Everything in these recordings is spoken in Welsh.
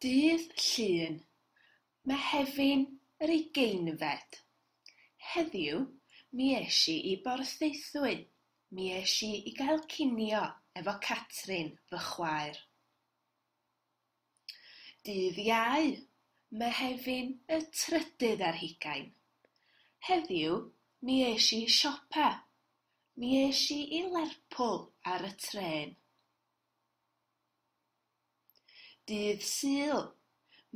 Dydd Llun, Mehefin yr ugeinfed. Heddiw mi es i i Borthaethwy, mi es i i gael cinio efo Catrin, fy chwaer. Dydd Iau, Mehefin y trydydd ar hugain. Heddiw mi es i i siopa. Mi es i i Lerpwl ar y trên. Dydd Sul,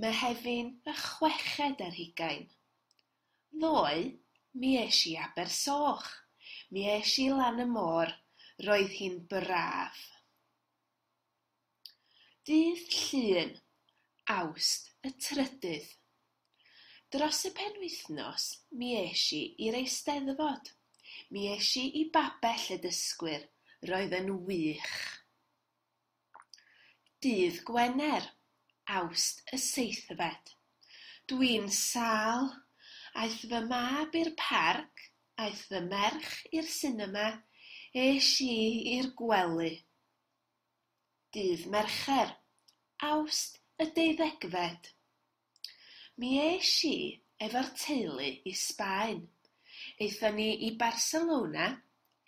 Mehefin y chweched ar hugain. Ddoe mi es i i Abersoch. Mi es i lan y môr, roedd hi'n braf. Dydd Llun, Awst y trydydd. Dros y penwythnos mi es i i'r Eisteddfod. Mi es i i Babell y Dysgwyr, roedd yn wych. Dydd Gwener, Awst y seithfed. Dwi'n sâl, aeth fy mab i'r parc, aeth fy merch i'r sinema, es i i'r gwely. Dydd Mercher, Awst y deuddegfed. Mi es i efo'r teulu i Sbaen. Aethon ni i Barcelona,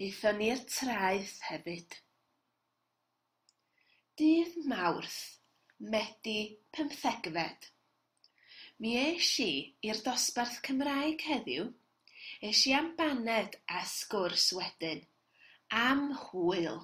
aethon ni i'r traeth hefyd. Dydd Mawrth, Medi pymthegfed. Mi es i i'r dosbarth Cymraeg heddiw, es i am baned a sgwrs wedyn, am hwyl!